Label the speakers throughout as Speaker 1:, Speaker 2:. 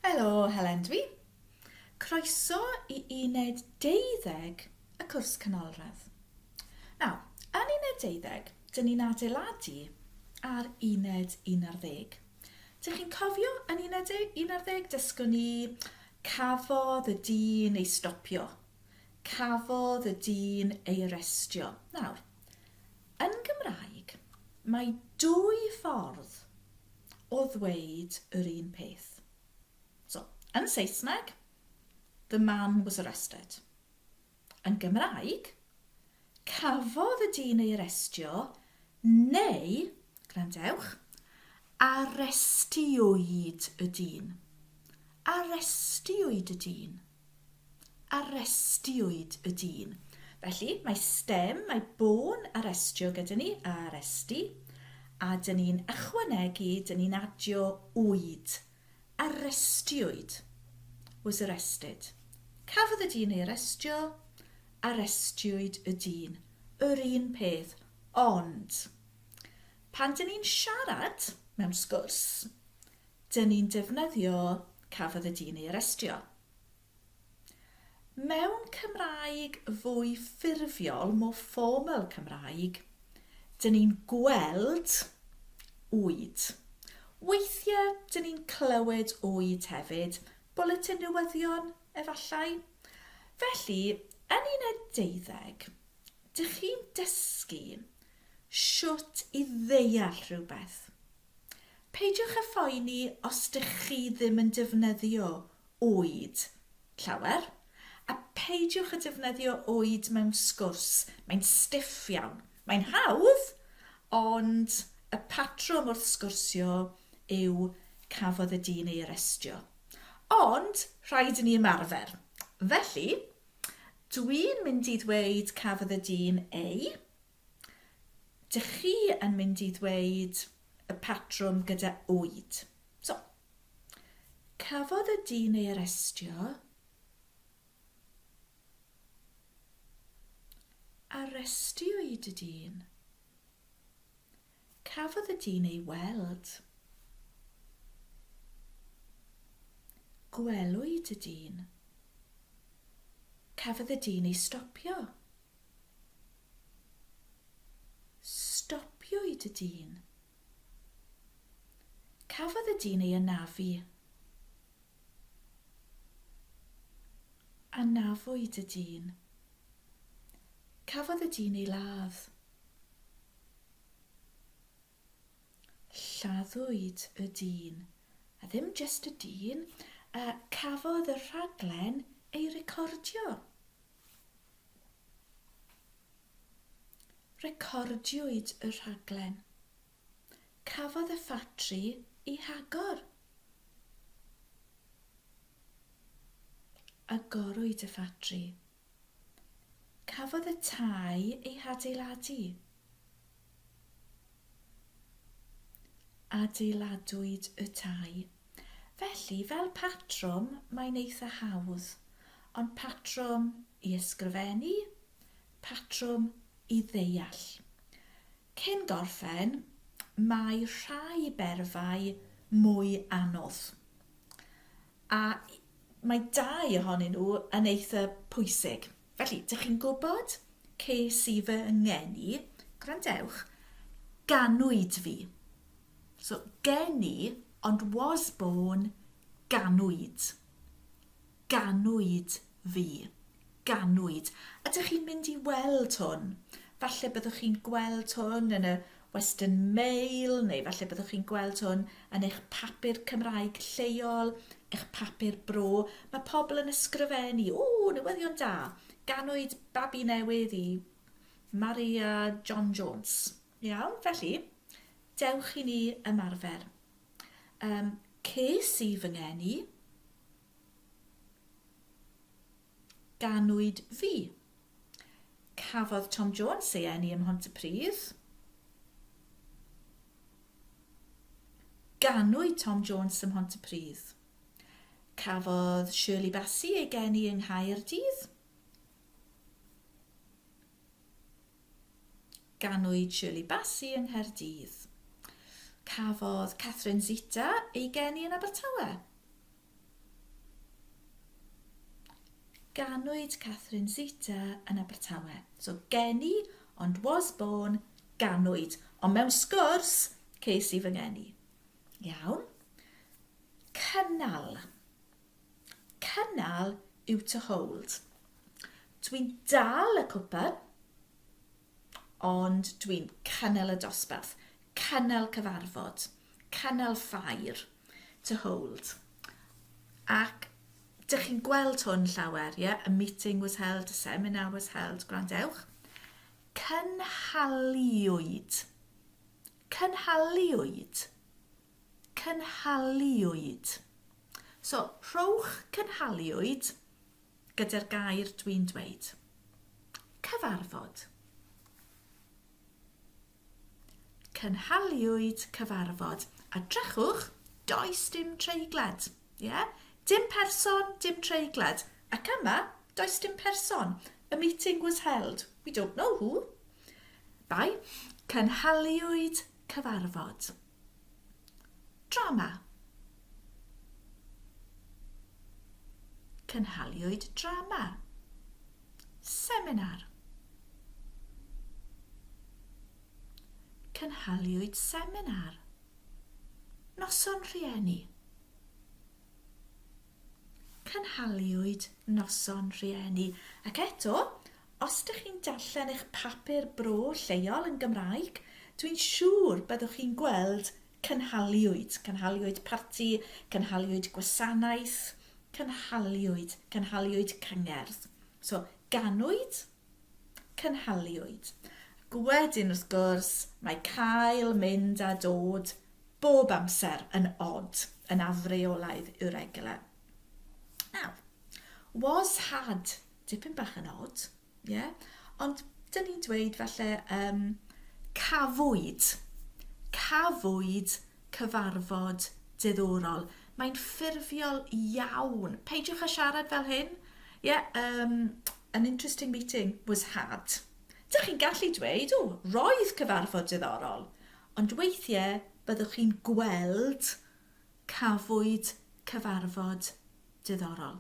Speaker 1: Helo, Helen dwi. Croeso i uned 12 y cwrs canolradd. Nawr, yn uned 12, dyn ni'n adeiladu ar uned 11. Dych chi'n cofio, yn un ar ddeg, un ar ddeg, dysgon ni, cafodd y dyn ei stopio. Cafodd y dyn ei arestio. Nawr, yn Gymraeg, mae dwy ffordd o ddweud yr un peth. So, yn Saesneg, the man was arrested. Yn Gymraeg, cafodd y dyn ei arestio neu, gwrandewch, arestiwyd y dyn. Arestiwyd y dyn. Arestiwyd y dyn. Felly, mae stem, mae bôn arestio gyda ni, aresti, a dyn ni'n ychwanegu, dyn ni'n adio wyd. Arestiwyd, was arrested. Cafodd y dyn ei arestio, arestiwyd y dyn. Yr un peth, ond pan dyn ni'n siarad mewn sgwrs, dyn ni'n defnyddio cafodd y dyn ei arestio. Mewn Cymraeg fwy ffurfiol, more formal Cymraeg, dyn ni'n gweld oed. Weithiau dyn ni'n clywed oed hefyd, bwletin newyddion efallai. Felly, yn uned deuddeg, dych chi'n dysgu shwt i ddeall rhywbeth. Peidiwch â phoeni os dych chi ddim yn defnyddio oed llawer, a peidiwch â defnyddio oed mewn sgwrs, mae'n stiff iawn. Mae'n hawdd, ond y patrwm wrth sgwrsio yw cafodd y dyn ei arestio. Ond rhaid i ni ymarfer. Felly, dwi'n mynd i ddweud cafodd y dyn ei Dych chi yn mynd i ddweud y patrwm gyda oed. So, cafodd y dyn ei arestio. Arestiwyd y dyn. Cafodd y dyn ei weld. Gwelwyd y dyn. Cafodd y dyn ei stopio. Stopiwyd y dyn. Cafodd y dyn ei anafu. Anafwyd y dyn. Cafodd y dyn ei ladd. Lladdwyd y dyn, a ddim jyst y dyn, a cafodd y rhaglen ei recordio. Recordiwyd y rhaglen. Cafodd y ffatri ei hagor. Agorwyd y ffatri. Cafodd y tai ei hadeiladu. Adeiladwyd y tai. Felly, fel patrwm, mae'n eitha hawdd, ond patrwm i ysgrifennu, patrwm i ddeall. Cyn gorffen, mae rhai berfau mwy anodd. A mae dau ohonyn nhw yn eitha pwysig. Felly, dych chi'n gwybod, ces i fy ngeni, gwrandewch, ganwyd fi. So, geni, ond was born, ganwyd. Ganwyd Fi. Ganwyd. Ydych chi'n mynd i weld hwn? Falle byddwch chi'n gweld hwn yn y Western Mail neu falle byddwch chi'n gweld hwn yn eich papur Cymraeg lleol, eich papur bro. Mae pobl yn ysgrifennu, O, newyddion da! Ganwyd babi newydd i Maria John Jones. Iawn, felly, dewch i ni ymarfer. Um, ces i fy ngeni. Ganwyd fi. Cafodd Tom Jones ei eni ym Mhontypridd. Ganwyd Tom Jones ym Mhontypridd. Cafodd Shirley Bassey ei geni yng Nghaerdydd. Ganwyd Shirley Bassey yng Nghaerdydd. Cafodd Catherine Zeta ei geni yn Abertawe. Ganwyd Catherine Zeta yn Abertawe. So geni, ond was born, ganwyd. Ond mewn sgwrs, ces i fy ngeni. Iawn. Cynnal. Cynnal yw to hold. Dwi'n dal y cwpan, ond dwi'n cynnal y dosbarth. Cynnal cyfarfod. Cynnal ffair. To hold. Ac dych chi'n gweld hwn llawer, ie? A meeting was held, a seminar was held, gwrandewch. Cynhaliwyd. Cynhaliwyd. Cynhaliwyd. So, rhowch cynhaliwyd gyda'r gair dwi'n dweud. Cyfarfod. Cynhaliwyd cyfarfod. A drechwch, does dim treiglad. Ie? Yeah? Dim person, dim treiglad. Ac yma, does dim person. A meeting was held. We don't know who. Bai, cynhaliwyd cyfarfod. Drama Cynhaliwyd drama, seminar Cynhaliwyd seminar, noson rhieni Cynhaliwyd noson rhieni Ac eto, Os dych chi'n darllen eich papur bro lleol yn Gymraeg, dwi'n siŵr byddwch chi'n gweld cynhaliwyd, cynhaliwyd parti, cynhaliwyd gwasanaeth, cynhaliwyd, cynhaliwyd cyngerdd. So, ganwyd, cynhaliwyd. Ac wedyn, wrth gwrs, mae cael, mynd a dod bob amser yn od, yn afreolaidd irregular. Nawr, was had Dipyn bach yn od, ie? Yeah? Ond dyn ni'n dweud falle um, cafwyd, cafwyd cyfarfod diddorol. Mae'n ffurfiol iawn. Peidiwch â siarad fel hyn. Yeah, um, an interesting meeting was had. Dych chi'n gallu dweud, o, roedd cyfarfod diddorol. Ond weithiau byddwch chi'n gweld cafwyd cyfarfod diddorol.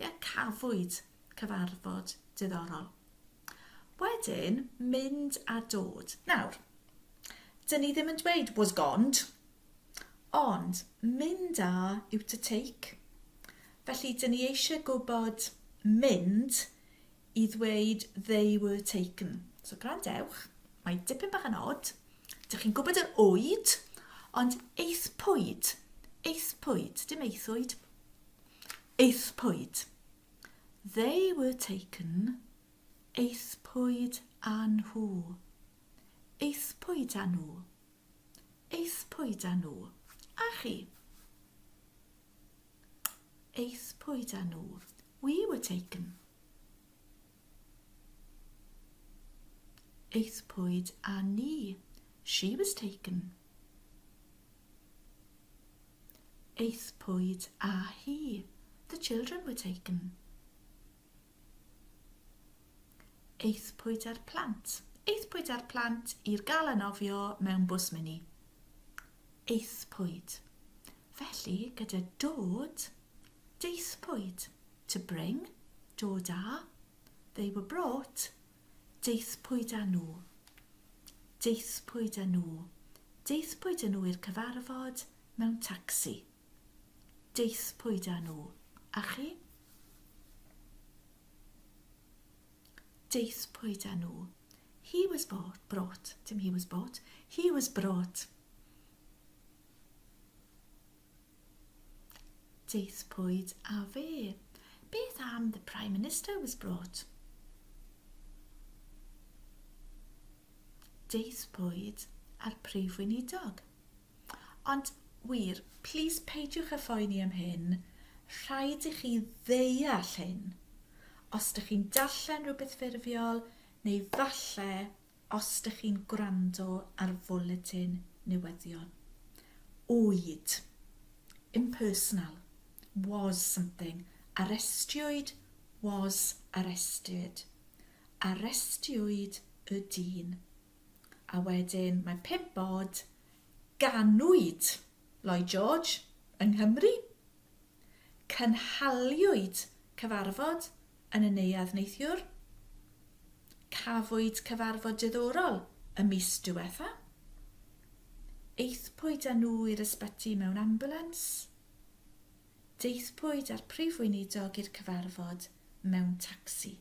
Speaker 1: Ie, cafwyd cyfarfod diddorol. Wedyn, mynd a dod. Nawr, dyn ni ddim yn dweud was gond, ond mynd a yw to take. Felly, dyn ni eisiau gwybod mynd i ddweud they were taken. So, gwrandewch, mae dipyn bach yn od. Dych chi'n gwybod yr oed, ond eithpwyd, eithpwyd, dim eithwyd, Aethpwyd They were taken Aethpwyd â nhw Aethpwyd â nhw Aethpwyd â nhw A chi? Aethpwyd â nhw We were taken Aethpwyd â ni. She was taken. Aethpwyd â hi. The children were taken. Aethpwyd â'r plant. Aethpwyd â'r plant i'r gael anofio mewn bws mini. Aethpwyd. Felly, gyda dod, daethpwyd. To bring, dod â. They were brought, daethpwyd â nhw. Daethpwyd â nhw. Daethpwyd â nhw i'r cyfarfod mewn tacsi. Daethpwyd â nhw. A chi? Daethpwyd â nhw. He was bought, brought. Dim he was bought. He was brought. Daethpwyd â fe. Beth am the Prime Minister was brought? Daethpwyd a'r Prif Weinidog. Ond wir, plis peidiwch â phoeni am hyn, rhaid i chi ddeall hyn. Os dych chi'n darllen rhywbeth ffurfiol, neu falle Os dych chi'n gwrando ar Fwletin Newyddion Oed, impersonal, was something, arestiwyd, was arrested, arestiwyd y dyn, a wedyn mae pump oed, ganwyd, Lloyd George, yng Nghymru. Cynhaliwyd cyfarfod yn y Neuadd neithiwr. Cafwyd cyfarfod diddorol y mis diwetha. Aethpwyd â nhw i'r ysbyty mewn ambulans. Daethpwyd â'r Prif Weinidog i'r cyfarfod mewn tacsi.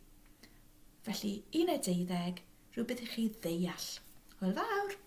Speaker 1: Felly, uned deuddeg, rhywbeth i chi ddeall. Hwyl fawr!